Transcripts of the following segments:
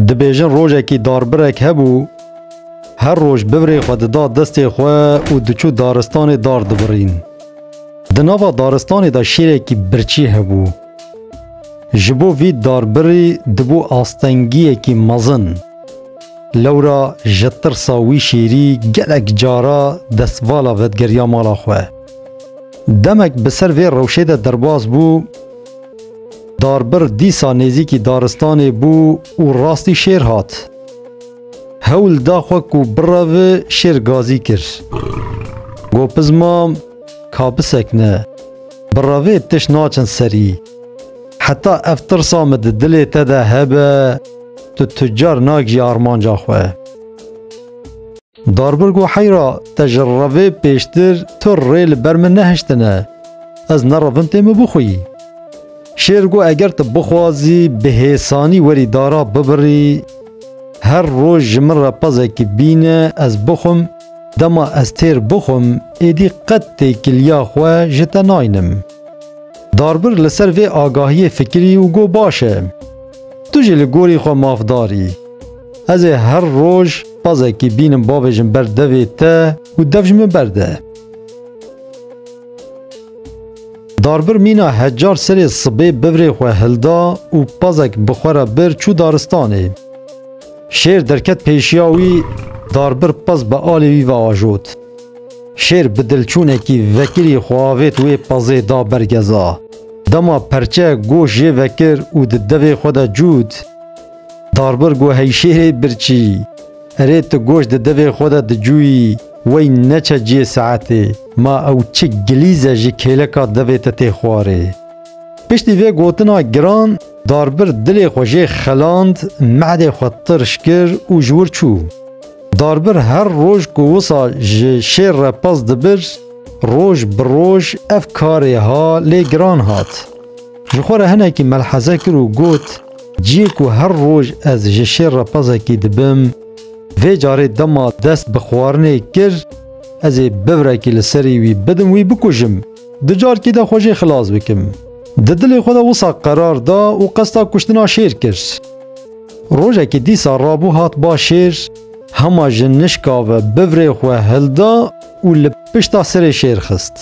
Dibêjin rojekî darbirek hebû, her roj bivrê xwe dida destê xwe û diçû daristanê dar dibirîn. Di nava daristanê de şêrekî birçî hebû. Ji bo vî darbirî dibû astengiyekî mezin. Lewra ji tirsa wî şêrî gelek cara destvala vedgeriya mala xwe. Demek bi ser vê rewşê de derbas bû, Darbir dîsa nêzîkî daristanê bû û rastî şêr hat. Hewl da xwe ku birevi şêr gazî kir. Got piz mam ka bisekine. Birevê tişt naçin serî. Heta ev tirsa min di dilê te de hebe tu tu car nagî armanca xwe. Darbirg û heyra te ji revê pêştir tu rê li ber min nehiştine. Ez nerevin tê min bixwî. Şêr got eger tu bixwazî bi hêsanî werî dara bibirî, her roj ji min re pezekî bîne ez bixwim, dema ez têr bixwim êdî qet têkiliya xwe ji te naynim. Darbirg li ser vê agahiyê fikirî û got baş e. Tu jî li gorî xwe mafdar î. Ez ê her roj Pazekî bînim bavê jin ber devê te û dev ji min berde. Darbir mîna hecar serê sibê bivrê xwe hilda û pazek bi xwe re bir çû daristanê. Şêr derket pêşiya wî, darbir paz bi alê wî ve ajot. Şêr bi dilçûnekî vekirî xwe avêt wê pazê da ber geza. Dema perçeyek goş jê vekir û di devê xwe de cût, Darbir got heyşêrê birçî. Erê tu goş di devê xwe de dicûyî wey neçe ciyê saetê ma ew çi gilîze ji kêleka devê te tê xwarê. Piştî vê gotina giran darbir dilê xwe jê xeland mehdê xwe tirş kir û ji wir çû. Darbir her roj ku wisa ji şêr re pez dibir roj bi roj ev karê ha lê giran hat. Ji xwe re hinekî melheze kir û got, Ciyê ku her roj ez ji şêr re pezekî dibim, vê carê dema dest bi xwarinê kir, ez ê bivrekî li serî wî bidim wî bikujim, di carkî de xwe jê xilas bikim. Di dilê xwe de wisa qerar da û qesta kuştina şêr kir. Rojekî dîsa rabû hat ba şêr, hema ji nişka ve bivrê xwe hilda û li pişta serê şêr xist.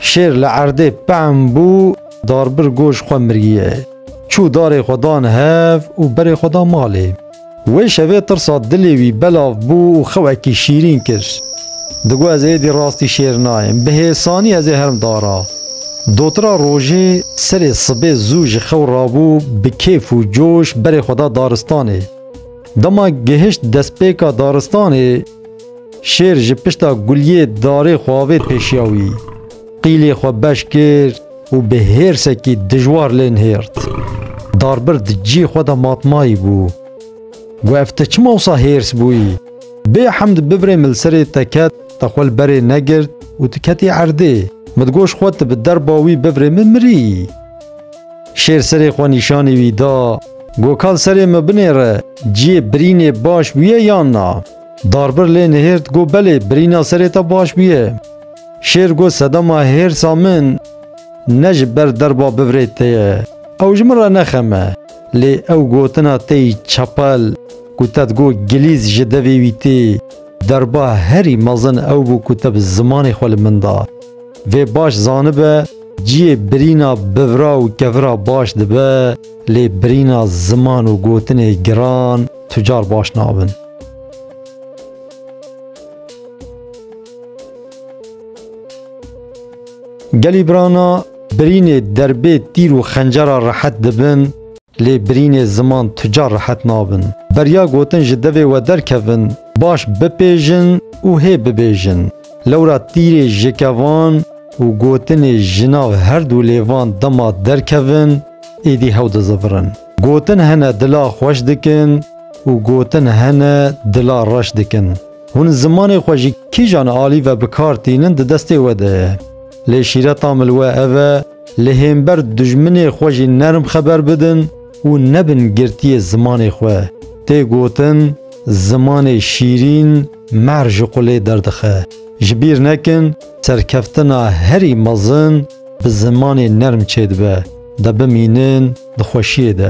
Şêr li erdê pehm bû, darbir goş xwe miriyê. Çû darê xwe dan hev û berê xwe da malê. Wê şevê tirsa dilê wî belav bû û xewekî şîrîn kir. Digot ez êdî rastî şêr nayêm. Bi hêsanî ez ê herim dara. Dotira rojê serê sibê zû ji xew rabû bi kêf û coş berê xwe da daristanê. Dema gihişt destpêka daristanê, şêr ji pişta guliyê darê xwe avêt pêşiya wî. Qîlê xwe beş kir û bi hêrsekî dijwar lê nihêrt. Darbir di cî xwe de matmayî bû. Got ev ti çima wisa hêrs bûyî? Bê hemd bibrê min li serê te ket, te xwe li berê negirt û tu ketî erdê. Min digot ji xwe tu bi derba wî bibrê min mirîyî. Şêr serê xwe nîşanî wî da. Got ka li serê min binêre, ciyê birînê baş bûye yan na? Darbir lê nihêrt got belê birîna serê te baş bûye. Şêr got sedema hêrsa min ne ji ber derba bivirê te ye, ew ji min re nexeme. Lê ew gotina te yî çepel ku te digot gilîz ji devê wî tê, derba herî mezin ew bû ku te bi zimanê xwe li min da. Vê baş zanibe ciyê birîna bivira û kevira baş dibe, lê birîna ziman û gotinê giran tu car baş nabin. Gelî birana birînê derbê tîr û xencera rehet dibin lê birînê ziman tu ca rehet nabin. Beriya gotin ji devê we derkevin, baş bipêjin û hê bibêjin. Lewra tîrê ji kevan û gotinê ji nav herdû lêvan dema derkevin êdî hew dizivirin. Gotin hene dila xweş dikin û gotin hene dila reş dikin. Hûn zimanê xwe ji kîjan alî ve bi kar tînin di destê we de ye. Lê şîreta min li we ev e, li hênber dijminê xwe jî nerm xeber bidin û nebin girtiyê zimanê xwe. Tê gotin zimanê şîrîn mehr ji qulê derdixe. Ji bîr nekin serkeftina herî mezin bi zimanê nerm çêdibe. De bimînin. Di xweşiyê de.